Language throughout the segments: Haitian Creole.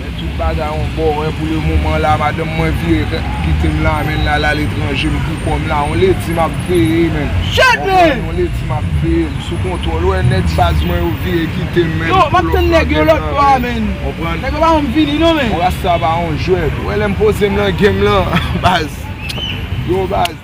Men tout bagay yon bò wè pou le moman la madanm mwen vire kitem la menl lal aletranje m poukòm la yon ledi map veye menl konprann yon ledi map veye m sou kontwòl wè nèg baz mwen yo vire kitem menl pou lòt bagay la menl konprann yon rasta pa yon jwèt wè lèm pozem nan game lan baz yo baz.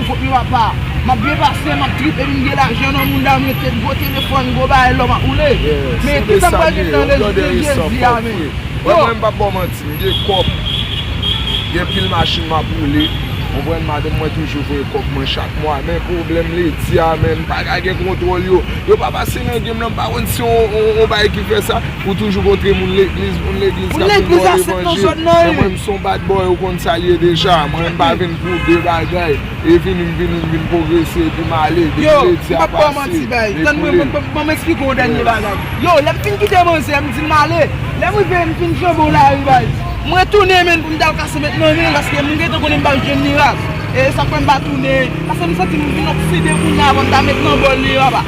Kot nou apa? Map byen pase, map trip epi m gen lajan nan mouda m rete gwo telefòn, gwo bagay lò map woule. Men kisa m pral gen nan rès de Jezi a men? Wè mwen m pap baw manti, m gen kòb, gen pil machin map woule, konprann, madanm mwen toujou voye kòb mwen chak mwa men pwoblèm ledi a men m paka gen kontwòl yo, yo pa pase nan gem nan m pa konn si yon bagay ki fè sa. Ou toujou kontre moun legliz, moun legliz kap vin baw levanjil, men mwen m son bad boy ou konn sa l ye deja, mwen m pa vin pou de bagay, e vini m vini m vin pwogrese epi m ale, depi ledi a pase, me koule. Bon m esplike w dènye bagay, yo lè m fin kite manzè m di l m ale, lè m rive m fin flanbe w lari baz, m retounen menn pou m tal kase met nan men l paske m gentan konnen m pral jwenn mirak, e sa k fè m pa tounen, paske m santi m vin okside kounya avan m ta met nan bòl li anba.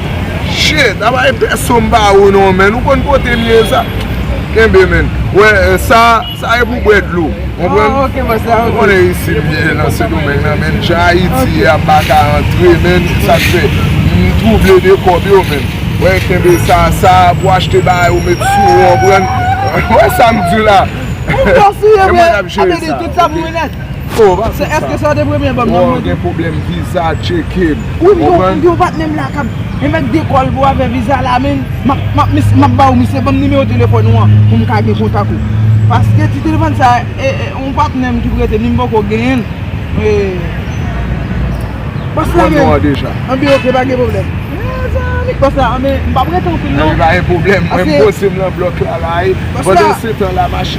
Shit! Apa e pèson m pa ou non menn ou konn kote m ye sa kenbe menn wè sa sa e pou bwè dlo konprann ou konnen isit m ye nan sendomeng nan menn jan ayiti ye a m pa ka antre menn se sak fè m twouble de kòb yo menn wè kenbe sa sa pou achte bagay ou met sou ou konprann wè sa m di w la se mwen k ap jere sa ok. Oh pa fè sa. Eske sa te premye album nan mwen tou. Waww gen problem viza tchekem. Ou m gen yon patnè m la kap emek de kòl pou afè viza la menn map bawou misye banm nimewo telefòn ou an poum ka gen kontak ou paske ti telefòn sa e yon patnè m ki prete li m poko genyenl e bòs la menm anbe ok pa gen problem mezanmi bòs la anbe m pa prete anpil non anbe pa gen problem mwen m poze m lan blòk la la e pandan se tan la machine.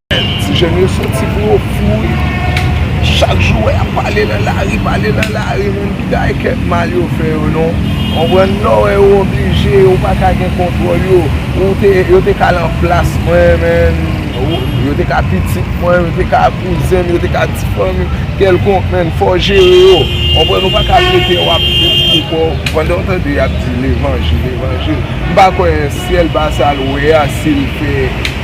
Ti jèn yo soti pou yo kouri Chak jou wè yap pale nan lari pale nan lari Moun ki ta gen kèk mal yo fè yo non Konprann lè w wè yo oblije ou pa ka gen kontwòl yo Ou te yo te ka lan plas mwen menn Yo te ka pitit mwen yo te ka kouzen m yo te ka ti fanmi m kèlkonk menn Fò w jere yo konprann ou pa ka prete w ap detwi kò w Pandan w tande yap di levanjil levanjil M pa kwè syèl ba sa l wè a si l fè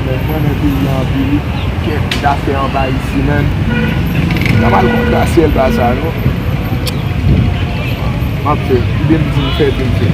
Mwen renmen peyi an anpil wi. Kèt zafè anba isi menn. Mwen pa pral kontra si el pa sa non. Map fè. Kite m di m fè epi m fè.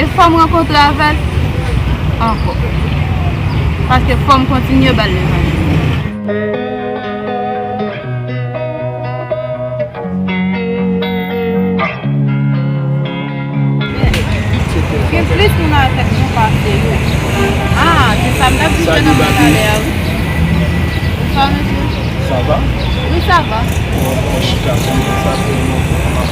E fò m rankontre avèl ankò. Paske fò m kontinye ba l levanjil.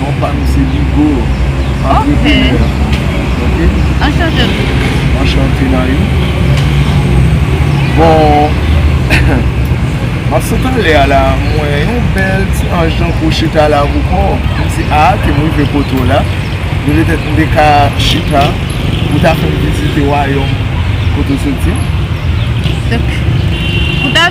Non pa m se Bigo antreprenè ok anchante Bigo anchante Nayou bon map sot ale a la m wè yon bèl ti anj nan kou chita la pou kò m di a ke m rive kote w la ni petèt m te ka chita pou ta fè m vizite wayòm kote w soti m pou ta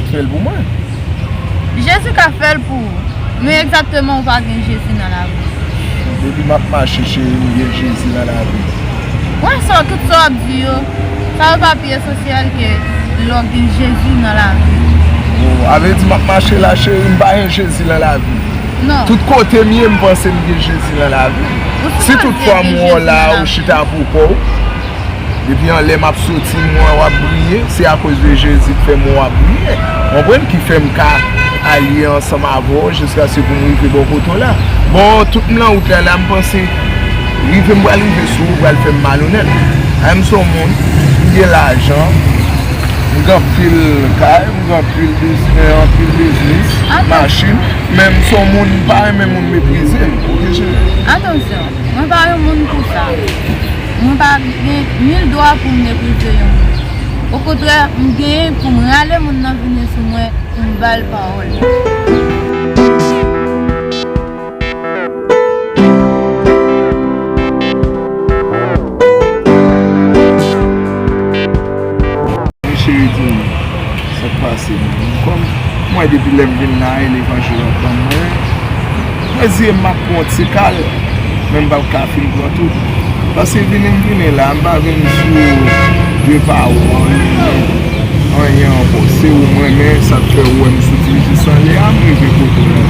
Fèl pou mwen. Jezi ka fèl pou ou. Men egzakteman ou pa gen Jezi nan lavi ou. Depi map mache cheri m gen Jezi nan lavi m. Mwen sò tout sa wap di yo. Sa yo pa pi esansyèl ke lè w gen Jezi nan lavi ou. Oh avle di map mache la cheri m pa gen Jezi nan lavi m. Non. Tout kote m ye m panse m gen Jezi nan lavi m. Si tout fwa m wè w la ou chita pou kò w. Depi anlè map soti m wè wap briye, se akoz de Jezi k fèm wè wap briye. Ou konprann? Ki fèm ka aliye ansanm avè w jiskaske pou m rive bò kote w la. Bon, tout m lan wout la la m panse rive m pral rive sou ou pral fèm malonèt. Anh m son moun, m gen lajan, m gen anpil kay, m gen anpil biznen, anpil biznis, machin, men m son moun m pa renmen moun meprize m, ok cheri? Atansyon! Mwen pa yon moun pou sa. Mwen pa gen nil dwa pou m meprize yon moun. Okontrè, m genyen pou m rale moun nan vini sou mwen pou m ba l pawòl. Mwen cheri di m sa k pase. Mwen di m kòm m wè depi lè m vin la e levanjil ap ban mwen. Mwen di e m ap pran yon ti kal, men m pap ka fin pran tout. Paske vini m vini la, m pa vin sou de pawòl ou anyen ankò. Se ou m renmen, sa k fè ou wè m soti jis ale a, m rive kote w la.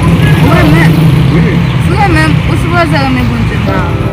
Ou renmen m? Wi. Si w renmen m, ou sipoze renmen Bondye m nan avan.